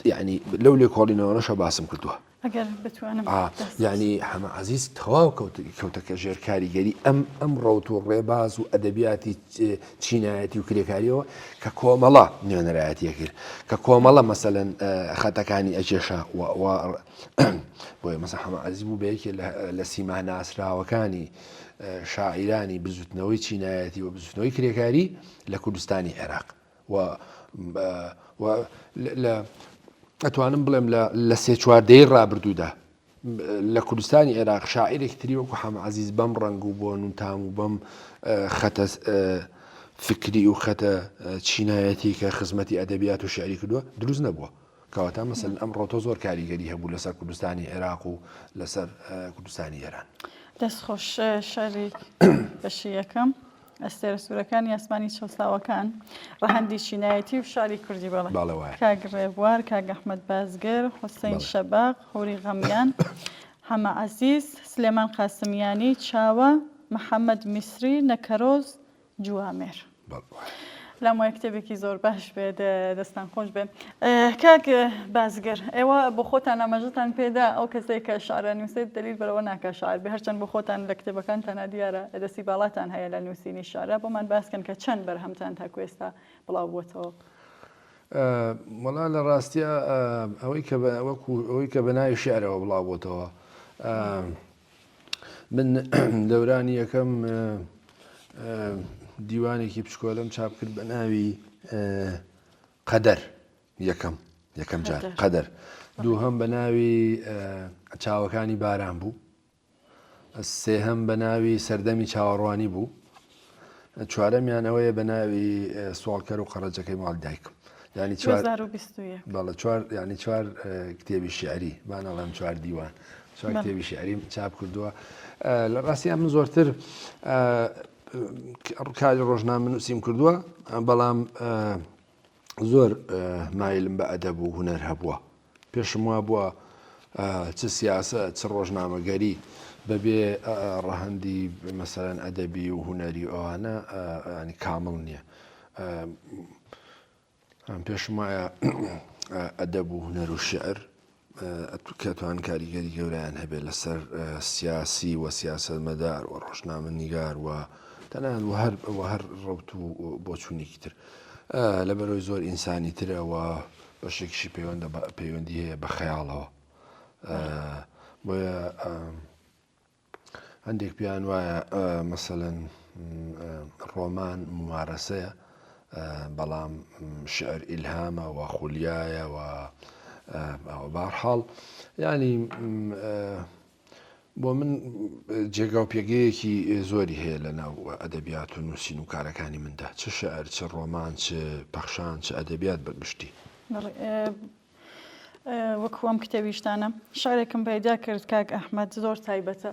S2: یانی لەو لێکۆڵینەوەشە باسم کردووە
S1: یانی حەمە
S2: عزیز تەواو کەوتەکە ژێر کاریگەری ئەم ئەم ڕوت و ڕێباز و ئەدەبیاتی چینایەتی و کرێکاریەوە کە کۆمەڵە نوێنەرایەتە کرد کە کۆمەڵە مەسەەن خەتەکانی ئەکێشە بۆی مەسە حەمە عزیز بوو بەیەکێ لە سیما ناسراوەکانی شاعیرانی بزوتنەوەی چینایەتی و بزوتنەوەی کرێکاری لە کوردستانی عێراق و و لە ئەتوانم بڵێم لە سێ چواردەی ڕابردوودا لە کوردستانی عێراق شاعیرێک تری وەکو حەمەعزیز بەم ڕنگ و بۆن و تام و بەم خەتە فکری و خەتە چینایەتی کە خزمەتی ئەدەبیات و شعری کردووە دروست نەبووە کەواتە مەسن ئەم ڕۆتۆ زۆر کاریگەری هەبوو لەسەر کوردستانی عێراق و لەسەر کوردستانی ئێران دەستخۆش
S1: شاری بەشی یەکەم ئەستێرە سورەکانی ئاسمانی چەوساوەکان ڕەهەندی چینایەتی و شاری کوردی بەڵێ بەڵێ وایە کاک ڕێبوار کاک ئەحمەد بازگر حوسین بەڵێ شەباق هوری غەمیان حەمە عەزیز سلێمان قاسمیانی چاوە محەمەد میسری نەکەرۆز جوامێر بەڵێ وایە پلام وایە کتێبێکی زۆر باش بێت دەستان خۆش بێت کاک بازگەر ئێوە بۆ خۆتان ئاماژەتان پێدا ئەو کەسێک کە شارە نووسێت دلیل بەرەوە ناکە شار بە هەرچەند بۆ خۆتان لە کتێبەکان تەنا دیارە دەستی باڵاتان هەیە لە نووسینی شارە بۆمان باسکەن کە چەند بەرهەمتان تاکوێستا بڵاو بووتەوە.
S2: مەڵا لە ڕاستە ئەوەی کە ئەوەی کە بەناوی شعرەوە بڵاو بۆتەوە من دەورانی یەکەم دیوانێکی پشکۆلم چاپ کرد بە ناوی قەدەر یەکەم یەکەم جار قەدەر دوو هەم بە ناوی چاوەکانی باران بوو سێهەم بە ناوی سەردەمی چاوەڕوانی بوو چوارەمیان ئەوەیە بە ناوی سوالکەر و قەڕەجەکەی ماڵ دایکم ینی ینی چوار کتێبی شعری بانەڵێم چوار دیوان چوار کتێبی شعریم چاپ کردووە لە ڕاستیان من زۆرتر ڕکاری ڕۆژنان من نووسیم کردووە بەڵام زۆر مایلم بە ئەدەب و هوەر هەبووە پێشم وابووە چ سیاسەت چ ڕۆژنامەگەری بەبێ ڕەهەندی مەسەرەن ئەدەبی و هونەری ئەوانە ینی کامڵ نییە. ئەم پێشم وایە ئەدەب و هونەر و شعر کەتوان کاریگەری گەوریان هەبێت لەسەر سیاسی و سیاست مەدار و ڕۆژنامە نیگار و تەنان و هەر هەر ڕوت و بۆچوونێکی تر لە بەرەوەی زۆر ئینسانی ترەوە بەشێکیشی پەیوەندە بە پەیوەندی هەیە بە خەیاڵەوە بۆیە هەندێک پێیان وایە مەسەەن ڕۆمان ممارەسەیە بەڵام شعر ئیلهامە و خولیایە و بارحاڵ ینی بۆ من جێگا و پێگەیەکی زۆری هەیە لە ناو ئەدەبیات و نووسین و کارەکانی مندا چ شعر چ ڕۆمان چ پەخشان چ ئەدەبیات بەگشتی
S1: وەکوەم کتێویشتانە شارێکم پەیدا کرد کاک ئەحمد زۆر تایبەتە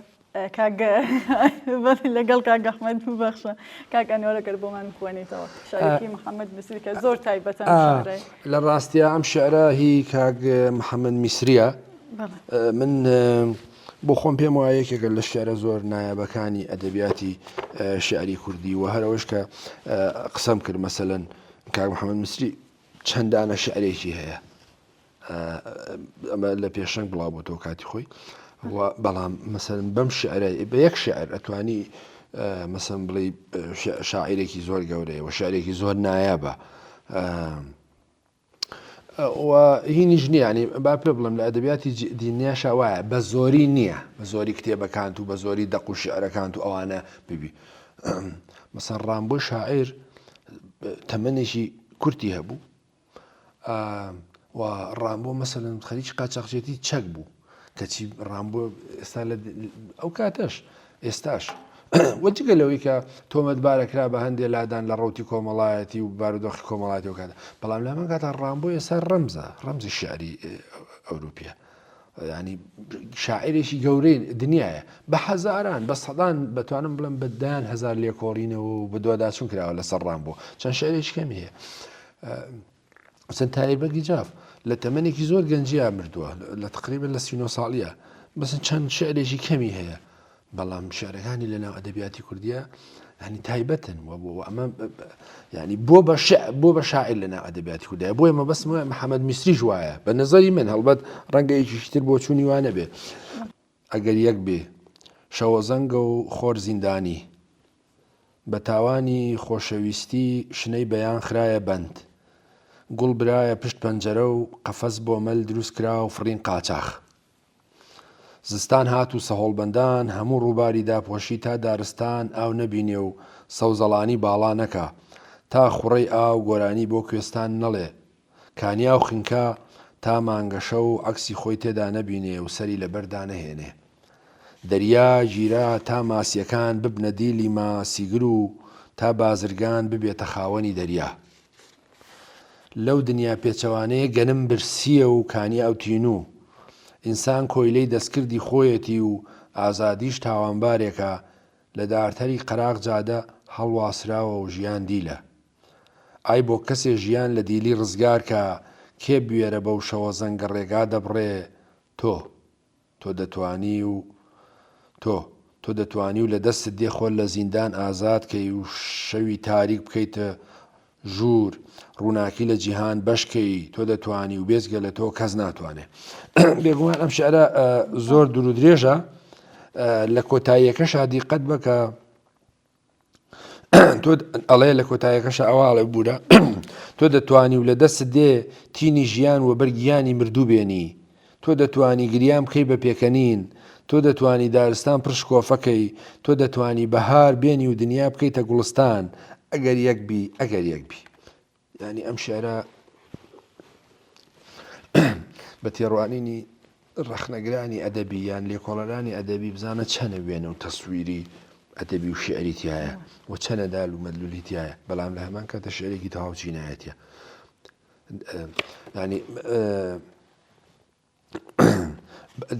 S1: لەگەڵ کاک ئەحمد ببەخشە کاک ئەنۆرەگەر بۆمان بخوێنیتەوە شارێکی محەممەد مسیرکە زۆر تایبەتە لە
S2: ڕاستیا ئەم شعرا هی کاک محەممەد میسریە من بۆ خۆم پێم وایە یەکێکە لە شعرە زۆر نایابەکانی ئەدەبیاتی شعری کوردی و هەرەوەش کە قسەم کرد مەسەەن کاک محەممەد مسری چەندانە شعرێکی هەیە ئەمە لە پێشەنگ بڵاو بۆ تۆ کاتی خۆی بەڵام مەسەن بەم شعرە بە یەک شعر ئەتوانی مەسم بڵێ شاعیرێکی زۆر گەورەیە و شعرێکی زۆر نایابە و هینیش نییە یانی با پێ بڵێم لە ئەدەبیاتی دینیاشا وایە بە زۆری نییە بە زۆری کتێبەکانت و بە زۆری دەق و شعرەکانت و ئەوانە ببی مەسەر ڕامبۆی شاعیر تەمەێکی کورتی هەبوو و ڕامبۆ مەسەن خەریکی قاچاقچێتی چەک بوو کەچی ڕامبۆ ئێستا لە ئەو کاتەش ئێستاش وە جگە لەوەی کە تۆمەتبارە کرا بە هەندێک لادان لە ڕوتی کۆمەڵایەتی و بارودۆخی کۆمەڵاتی و کاتە بەڵام لە من کاتە ڕامبۆ ئێستا ڕەمزە ڕەمزی شعری ئەوروپیە ینی شاعرێکی گەورەی دنیاە بە حەزاران بە سەدان بەتوانم بڵم بەدان هزار لێکۆڵینەوە و بە دوواداچون کراوە لەسەر ڕام بۆ چەند شعرێکی کەمی هەیە حسن تایر بەگی جاف لە تەمەنێکی زۆر گەنجیا مردووە لە تقریبن لە سینۆ ساڵیە بەسن چەند شعرێکی کەمی هەیە بەڵام شعرەکانی لە ناو ئەدەبیاتی کوردیە هەنی تایبەتن و بۆ ئەمە ینی بۆ بە بۆ بە شاعر لە ناو ئەدەبیاتی کوردای بۆیە مە بەسمە محەممەد میسریش وایە بە نظری من هەڵبەت ڕەنگە یەکیشتر بۆ چوونی وانە بێ ئەگەر یەک بێ شەوەزەنگە و خۆر زیندانی، بە تاوانی خۆشەویستی شنەی بەیان خرایە بەند، گوڵ برایە پشت پەنجەرە و قەفەس بۆ مەل دروست کرا و فڕین قاچاخ. زستان هات و سەهۆڵبەندان هەموو ڕووباری داپۆشی تا دارستان ئاو نەبینێ و سەوزەڵانی باڵا نەکا، تا خوڕەی ئاو گۆرانی بۆ کوێستان نەڵێ، کانیا و خنکا تا مانگە شەو عەکسی خۆی تێدا نەبینێ و سەری لەبەر دانەهێنێ. دەریا گیرا تا ماسییەکان ببنە دیلی ماسیگر و تا بازرگان ببێتە خاوەنی دەریا. لەو دنیا پێچەوانەیە گەنم برسییە و کانیا و تینوو. ئینسان کۆیلەی دەستکردی خۆیەتی و ئازادیش تاوانبارێکە، لە دارتەری قەراغ جادە هەڵواسراوە و ژیان دیلە. ئای بۆ کەسێ ژیان لە دیلی ڕزگار کا کێ بوێرە بەو شەوە زەنگە ڕێگا دەبڕێ تۆ تۆ دەتوانی و تۆ تۆ دەتوانی و لە دەستت دێ خۆت لە زیندان ئازاد کەی و شەوی تاریک بکەیتە ژوور ڕووناکی لە جیهان بەش کەی تۆ دەتوانی و بێجگە لە تۆ کەس ناتوانێ بێگومان ئەم شعرە زۆر دوور درێژە لە کۆتاییەکەشا دیقەت بکە تۆ ئەڵەیە لە کۆتایەکەشە ئەوە ئاڵێ بوورە تۆ دەتوانی و لە دەست دێ تینی ژیان و بەرگیانی مردوو بێنی تۆ دەتوانی گریان بکەی بە پێکەنین تۆ دەتوانی دارستان پرشکۆفەکەی تۆ دەتوانی بەهار بێنی و دنیا بکەیتە گوڵستان ئەگەر یەک بی ئەگەر یەک بی یانی ئەم شعرە بە تێڕوانینی ڕەخنەگرانی ئەدەبی یان لێکۆڵەرانی ئەدەبی بزانە چەنە وێنە و تەسویری ئەدەبی و شعری تایە و چەنە دال و مەدلولی تایە بەڵام لە هەمان کاتە شعرێکی تەواو چینایەتە ینی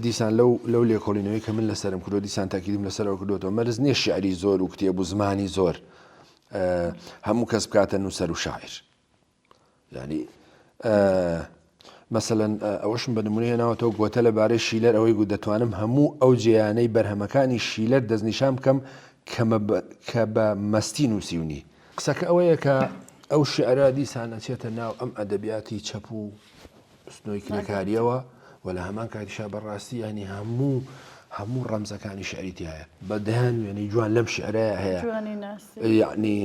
S2: دیسان لەو لەو لێکۆڵینەوەی کە من لەسرم کردو دیسان تاکیدیم لەسەرەوە کردوەوە مەرز نییە شعری زۆر و کتێب و زمانی زۆر هەموو کەس بکاتە نووسەر و شاعر ینی مەسەەن ئەوەشم بە نمونە هێناوەتەوە گوتە لە بارەی شیلەر ئەوەی گو دەتوانم هەموو ئەو جیانەی بەرهەمەکانی شیلەر دەستنیشان بکەم کە بە مەستی نووسیونی قسەکە ئەوەیە کە ئەو شعرا دیسانەچێتە ناو ئەم ئەدەبیاتی چەپ و سنۆی کرێکاریەوە و لە هەمان کاتیشا بەڕاستی ینی هەموو هەموو ڕەمزەکانی شعری تایە بە دەیان وێنەی جوان لەم شعرەیە هەیە یعنی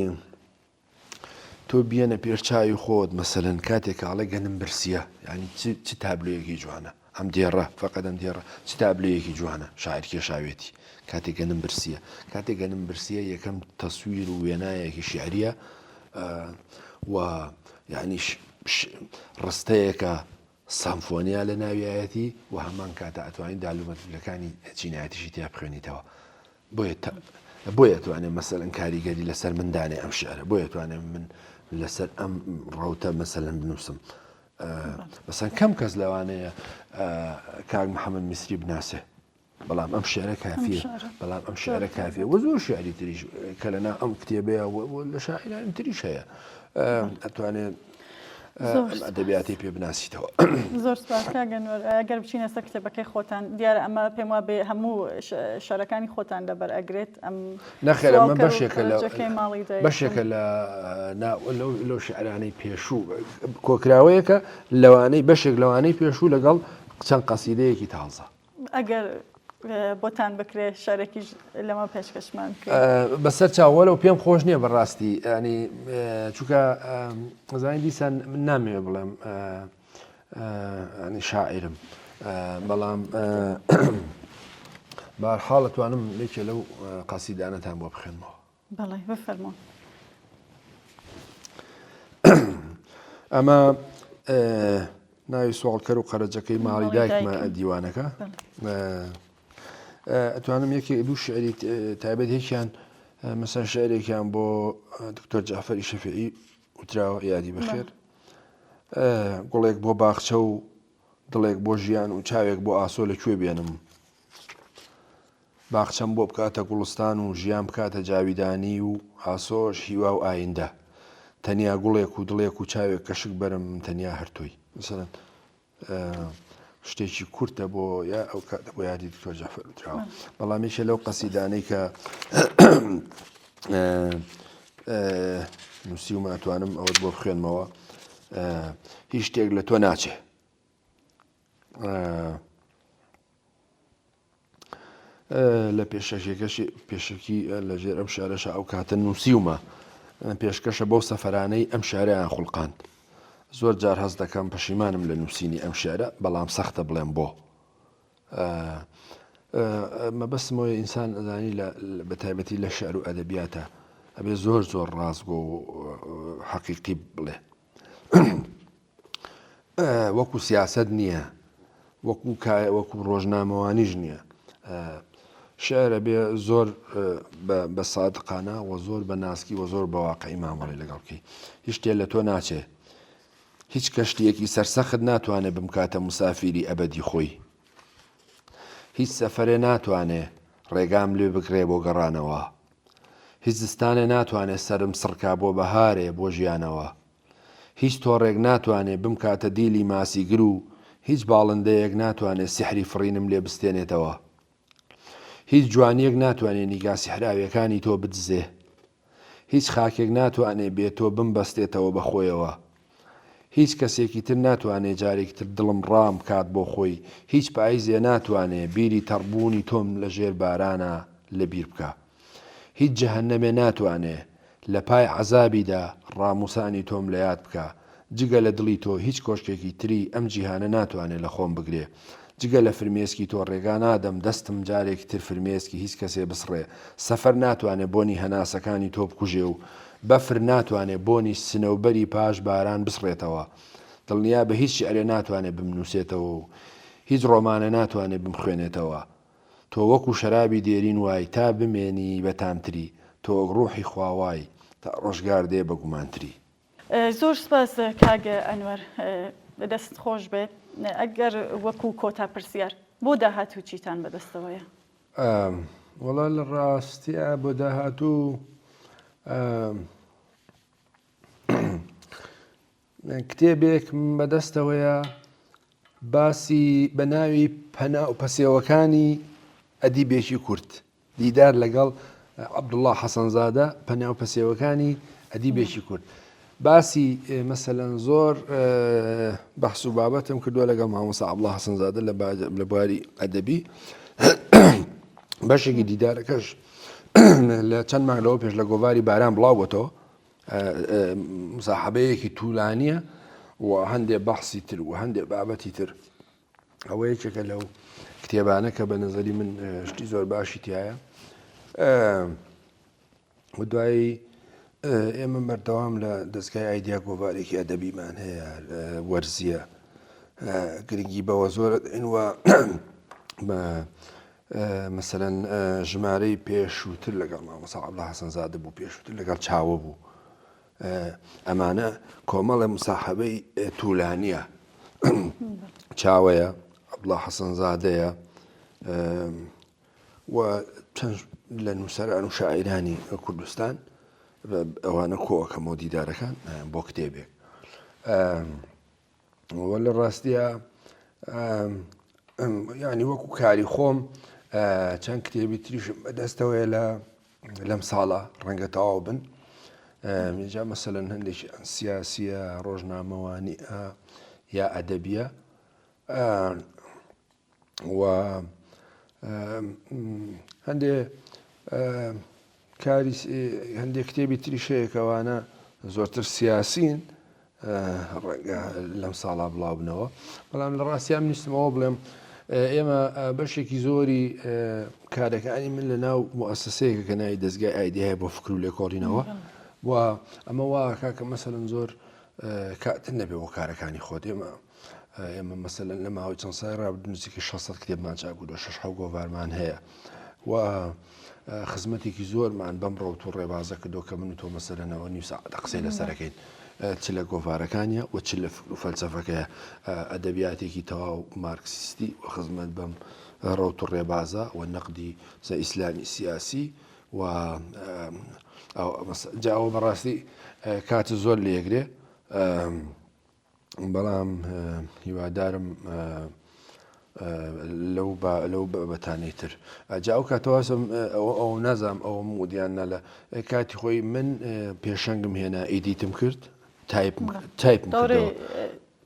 S2: تۆ بیەنە پێش چاوی خۆت مەسەەن کاتێک کاڵێک گەنم برسیە ینی چ تابلوەیەکی جوانە ئەم دێڕە فقدم دێڕە چ تابلوەیەکی جوانە شاعر کێشاوێتی کاتێک گەنم برسیە کاتێک گەنم برسیە یەکەم تەسویر و وێنایەکی شعریە و یعنیش ڕستەیەکە سەمفۆنیا لە ناویایەتی و هەمان کاتە ئەتوانین دالومەتلەکانی چینایەتیشی تیا بخوێنیتەوە بۆیە بۆیە توانێت مەسەرەن کاریگەری لەسەر مندانێ ئەم شعرە بۆیە توانێت من لەسەر ئەم ڕوتە مەسەلەن بنووسم بەسەن کەم کەس لەوانەیە کاک محەممەد میسری بناسێ بەڵام ئەم شعرە کافیە بەڵام ئەم شعرە کافیە وە زۆر شعری تریش کە لەنا ئەم کتێبەیە لە شاعرانی تریش هەیە ئەتوانێت ئەدەبیاتی پێ بناسیتەوە زۆر
S1: سپاسکگەنەوە ئەگەر بچینە سە کتێبەکەی خۆتان دیارە ئەمە پێم وا بێ هەموو شارەکانی خۆتان دەبەر ئەگرێت ئەم نەخێرە من
S2: بەشێکە بەشێکە لە لەو شعرانەی پێشوو کۆکراوەیەکە لەوانەی بەشێک لەوانەی پێشوو لەگەڵ چەند قەسیدەیەکی تازە ئەگەر
S1: بۆتان بکرێ شەرەکیش لەمە پێشکەشمان کرد بەسەر
S2: چاوەەوە پێم خۆش نییە بەڕاستی ینی چووکە زانین دیسان من نامەوێ بڵێم ینی شاعرم بەڵام بارحاڵەتوانم لێکێ لەو قەسیدانەتان بۆ بخێنمەوە
S1: بەڵێ
S2: بفەرموو. ئەمە ناوی سوالکەر و قەرەجەکەی ماڵی دایکمە دیوانەکە ئەتوانم یەکی دوو شعری تایبەت یەکیان مەسا شعرێکیان بۆ دکتۆر جعفری شەفعی وتراوە یادی بخێت گوڵێک بۆ باخچە و دڵێک بۆ ژیان و چاوێک بۆ ئاسۆ لەکوێ بێنم باخچەم بۆ بکاتە گوڵستان و ژیان بکاتە جاویدانی و ئاسۆش هیوا و ئایندە تەنیا گوڵێک و دڵێک و چاوێک کە شک بەرم من تەنیا هەر تۆی. مثلا شتێکی کورتە بۆ یا ئەو کاتە بۆ یادی دکتۆر جەعفەر وتراوە بەڵام یەکێ لەو قەسیدانەی کە نووسیومە ئەتوانم ئەوەت بۆ بخوێنمەوە هیچ شتێک لە تۆ ناچێ لە پێشەکیەکەشی پێشەکی لە ژێر ئەم شارەشە ئەو کاتە نووسیومە پێشکەشە بەو سەفرانەی ئەم شاریان خوڵقاند زۆر جار هەست دەکەم پەشیمانم لە نووسینی ئەم شعرە بەڵام سەختە بڵێم بۆ مەبەستمەوە ئینسان ئەزانی بە تایبەتی لە شعر و ئەدەبیاتە ئەبێ زۆر زۆر ڕاستگۆ و حەقیقی بڵێ وەکو سیاسەت نییە وەکو کایە وەکو ڕۆژنامەوانیش نییە شعرە بێ زۆر بە سادقانە وە زۆر بە ناسکی وە زۆر بەواقعی مامەڵی لەگەڵکی هیچ شتێ لە تۆ ناچێ هیچ کەشتیەکی سەرسەخت ناتوانێت بمکاتە مسافیری ئەبدی خۆی هیچ سەفرێ ناتوانێ ڕێگام لێ بگرێ بۆ گەڕانەوە هیچ زستانێ ناتوانێت سرم سڕکا بۆ بەهارێ بۆ ژیانەوە هیچ تۆڕێک ناتوانێ بمکاتە دیلی ماسیگر و هیچ باڵندەیەک ناتوانێ سیحری فڕینم لێ بستێنێتەوە. هیچ جوانییەک ناتوانێ نیگا سیحراوییەکانی تۆ بدزێ. هیچ خاکێک ناتوانێ بێ تۆ بمبەستێتەوە بە خۆیەوە. هیچ کەسێکی تر ناتوانێ جارێکی تر دڵم ڕام بکات بۆ خۆی، هیچ پاییزێ ناتوانێ بیری تەڕبوونی تۆم لە ژێر بارانا لە بیر بکا. هیچ جەهەنەمێ ناتوانێ لە پای عەزابیدا ڕاموسانی تۆم لە یاد بکا، جگە لە دڵی تۆ هیچ کۆشکێکی تری ئەم جیهانە ناتوانێ لە خۆم بگرێ، جگە لە فرمێسکی تۆ ڕێگا نادەم دەستم جارێکی تر فرمێسکی هیچ کەسێ بسڕێ، سەفەر ناتوانێ بۆنی هەناسەکانی تۆ بکوژێ و بەفر ناتوانێ بۆنی سنەوبەری پاش باران بسڕێتەوە، دڵنیابە هیچ شیعرێ ناتوانێ بمنووسێتەوە و هیچ ڕۆمانێ ناتوانێ بمخوێنێتەوە تۆ وەکو شەرابی دێرین وای تا بمێنی بە تامتری تۆ وەک ڕوحی خوا وای تا ڕۆژگار دێ بە گومانتری. زۆر
S1: سوپاس کاک ئەنوەر دەست خۆش بێت ئەگەر وەکو کۆتا پرسیار بۆ داهاتوو چیتان بەدەستەوەیە؟
S2: وەڵا لە ڕاستیا بۆ داهاتوو کتێبێکم بەدەستەوەیە باسی بە ناوی پەنا و پەسێوەکانی ئەدیبێکی کورد دیدار لەگەڵ عبدوڵله حەسەنزادە پەناو پەسێوەکانی ئەدیبێکی کورد باسی مەسەەن زۆر بەحس و بابەتم کردووە لەگەڵ مامۆسا عبدڵە حەسەنزادە لە بواری ئەدەبی بەشێکی دیدارەکەش لە چەند ماگەوە پێش لە گۆواری باران بڵاوەتەوە مساحەبەیەکی تولانیە و هەندێ بەحسی تر و هەندێ بابەتی تر ئەوە یەکێکە لەو کتێبانە کە بە نظری من شتی زۆر باشی تایە و دوایی ئێمە بەردەوام لە دەستگای ئایدیا گۆڤارێکی ئەدەبیمان هەیە وەرزیە گرنگی بەوە زۆر ئەین وە مەسەلەن ژمارەی پێشووتر لەگەڵ مامۆسا عەبدوڵا حەسەنزادە بوو، پێشووتر لەگەڵ چاوە بوو. ئەمانە کۆمەڵە مساحەبەی توولانیە چاوەیە عەبدوڵا حەسەنزادەیە و چەند لە نووسەران و شاعیرانی کوردستان ئەوانە کۆکەمەوە دیدارەکان بۆ کتێبێک وە لە ڕاستیە ینی وەکو کاری خۆم چەند کتێبی تریشم بەدەستەوەی لە لەم ساڵە ڕەنگە تەواو بن جا مەسەلەن هەندێکی ئەن سیاسیە ڕۆژنامەوانی یا ئەدەبیە و هەندێ کاری هەندێک کتێبی تریش هەیە کەوانە زۆرتر سیاسین ڕەنگە لەم ساڵا بڵاوبنەوە بەڵام لە ڕاستیان نیستمەوە بڵێم ئێمە بەشێکی زۆری کارەکانی من لە ناو مؤسسەیەکە کە ناوی دەستگای ئایدهای بۆ فکر و لێکۆڵینەوە و ئەمە واکە کە مەسەن زۆر کاتن نەبێ بۆ کارەکانی خۆت ئێمە ئێمە مەسەلەن لە ماوەی چەند سای ڕابد نزیکە 600 کتێبمان چاکو لە شش حو گۆڤارمان هەیە و خزمەتێکی زۆرمان بەم ڕەوت و ڕێبازە کردو کە من و تۆ مەسەرەنەوە نیو ساعتە قسەی لەسەرەکەین چ لە گۆڤارەکانە و چ لە فکر و فەلسەفەکەیە ئەدەبیاتێکی تەواو مارکسیستی و خزمەت بەم ڕەوت و ڕێبازە و نەقدی سە ئیسلامی سیاسی و جاوە بەڕاستی کات زۆر لێگرێ بەڵام هیوادارم لەو لەو بەتانەی تر جا ئەو کاتەوازم ئەوە ئەو نازام ئەوە مودیان نەلە کاتی خۆی من پێشەنگم هێنا ئیدیتم کرد تایپ تایپ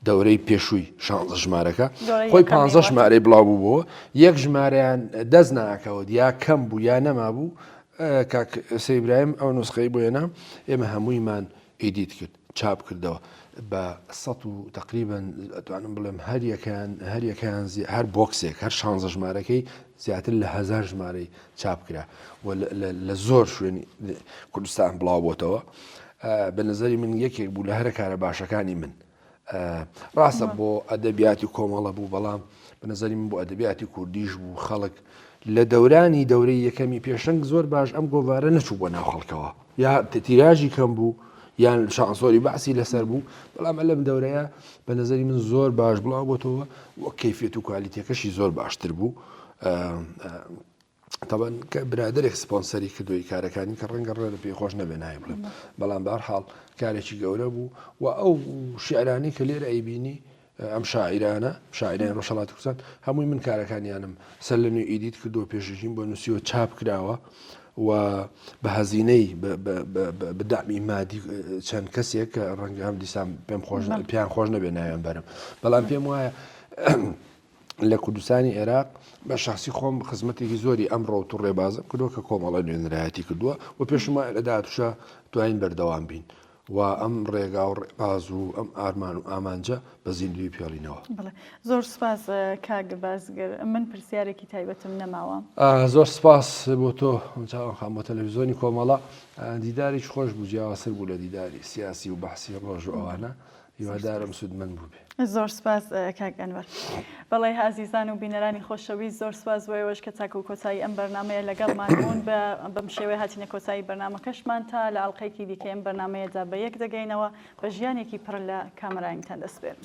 S2: دەورەی پێشووی شانزە ژمارەکە خۆی پ ژمارەی بڵاو بوو بۆ یەک ژمارەیان دەست ناکەوە یا کەم بوو یا نەما بوو کاک سەیبرایم ئەو نوسخەی بۆێنە ئێمە هەموویمان ئیدیت کرد چاپ کردەوە بە سەد و تەقریبەن ئەتوانم بڵێم هەریەکەیان هەریەکەیان هەر بۆکسێک هەر شانزە ژمارەکەی زیاتر لە هزار ژمارەی چاپ کرا لە زۆر شوێنی کوردستان بڵاو بۆتەوە بە نظری من یەکێک بوو لە هەرە کارە باشەکانی من ڕاستە بۆ ئەدەبیاتی کۆمەڵە بوو بەڵام بە نظری من بۆ ئەدەبیاتی کوردیش بوو خەڵک لە دەورانی دەورەی یەکەمی پێشنگ زۆر باش ئەم گۆوارە نەچوو بۆ ناو خەڵکەوە یا تیراژی کەم بوو یان شانسۆری بەعسی لەسەر بوو بەڵام لەم دەورەیە بە نظری من زۆر باش بڵاو بۆتەوە و کەفێت و کوالیتەکەشی زۆر باشتر بوو تەبەن کە برادێک سپۆنسەری کردوی کارەکانی کە ڕەنگە ڕێ لە پێی خۆش نەبێ نای بڵێ بەڵام بارحاڵ کارێکی گەورە بوو و ئەو شعرانی کە لێرە ئەیبینی ئەم شاعیرانە، شاعیرانی ڕۆژهەڵاتی کوردستان، هەمووی من کارەکانیانم سەر لەنوێ ئیدیت کردووە، پێشەکیم بۆ نووسیوە، چاپ کراوە و بە هەزینەی بە دامی مادی چەند کەسێک کە ڕەنگە هەم دیسان پێم خۆش پێیان خۆش نەبێ ناوێن بەرم بەڵام پێم وایە لە کوردستانی عێراق بە شخصی خۆم خزمەتێکی زۆری ئەم ڕۆت و ڕێبازم کردووە کە کۆمەڵە نوێنرایەتی کردووە و پێشمە لە داهاتوشە دواین بەردەوام بین وا ئەم ڕێگا و ڕێباز و ئەم ئارمان و ئامانجە بە زیندووی پێڵینەوە. بەڵێ زۆر سوپاس
S1: کاک بازگر من پرسیارێکی تایبەتم نەماوە. زۆر سوپاس
S2: بۆ تۆ چاوان خان بۆ تەلەفیزۆنی کۆمەڵە دیداریش خۆش بوو جیاوازتر بوو لە دیداری سیاسی و بەحسی ڕۆژ و ئەوانە. هیوادارم سودمەند بوبێ. زۆر سوپاس
S1: کاک ئەنوەر. بەڵی ئازیزان و بینەرانی خۆشەویست زۆر سوپاس بۆ ئێوەش کە تاکو کۆتایی ئەم بەرنامەیە لەگەڵمان بوون بە بەم شێوەیە هاتینە کۆتایی بەرنامەکەشمان تا لە ئەڵقەیەکی دیکەی ئەم بەرنامەیەدا بە یەک دەگەینەوە بە ژیانێکی پڕ لە کامەرانیتان دەسپێرم.